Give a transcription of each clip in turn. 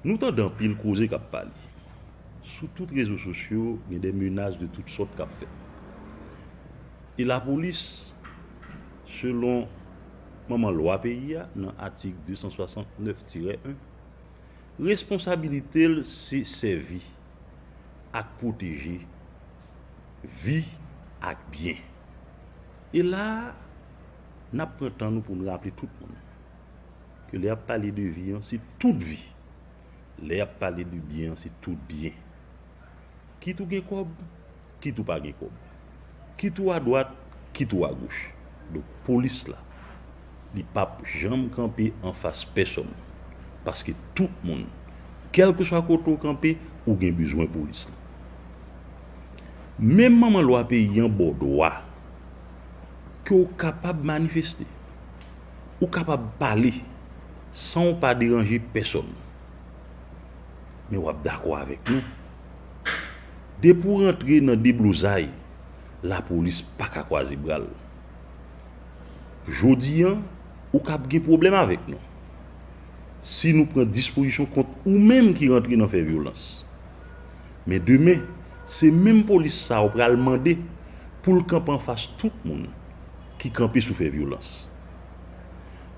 Nou tande anpil koze kap pale. Sou tout rezo sosyo gen de menas de tout sòt kap fèt. E lapolis selon manman lwa peyi a nan atik 269 tirè 1, responsabilite l se sèvi ak pwoteje vi ak byen. E la a. N ap pran tan nou pou n raple tout moun ke lè y ap pale de vi an se tout vi, lè y ap pale de byen an se tout byen. Kit ou gen kòb, kit ou pa gen kòb, kit ou adwat, kit ou agoch. Donk polis la, li p ap janm kanpe anfas pèsonn paske tout moun, kèlkeswa kote ou kanpe, ou gen bezwen polis la. Menm manman lwa peyi an ba w dwa. ke w kapab manifeste. Ou kapab pale san w pa deranje pèsonn. Men w ap dakò avèk nou, depi w rantre nan deblozay, lapolis pa ka kwaze bra l. Jodi an, ou ka ap gen pwoblèm avèk nou, si nou pran dispozisyon kont ou menm ki rantre nan fè vyolans. Men demen, se menm polis sa ou pral mande pou l kanpe anfas tout moun ki kanpe sou fè vyolans.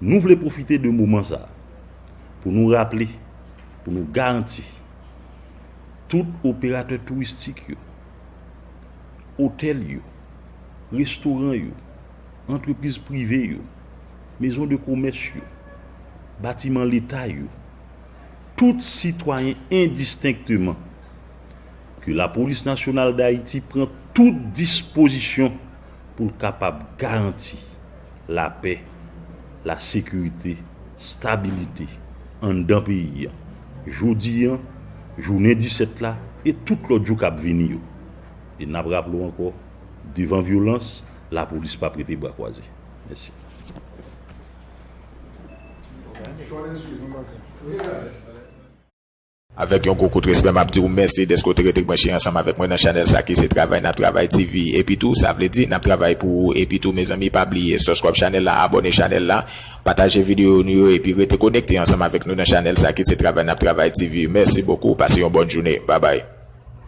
Nou vle pwofite de moman sa pou nou raple, pou nou garanti tout operatè touristik yo, otèl yo, restoran yo, antrepriz prive yo, mezon de komès yo, batiman leta yo, tout sitwayen endistenkteman, ke Lapolis Nasyonal Dayiti pran tout dispozisyon pou l kapab garanti lapè, lasekirite, stabilite anndan peyi an, jodi an, jounen 17 la e tout lòt jou k ap vini yo. E n ap raple w ankò, devan vyolans, Lapolis pa prete bra kwaze. Mèsi. Avèk yon gwo kout respè map diw mèsi dèske w te rete branche ansanm avèk mwen nan chanèl sa ki se travay nap travay TV epi tou sa vle di nap travay pou ou epi tou mezanmi pa bliye sòskrayb chanèl la abòne chanèl la pataje videyo nou yo epi rete konekte ansanm avèk nou nan chanèl sa ki se travay nap travay TV mèsi bokou pase yon bòn joune babay.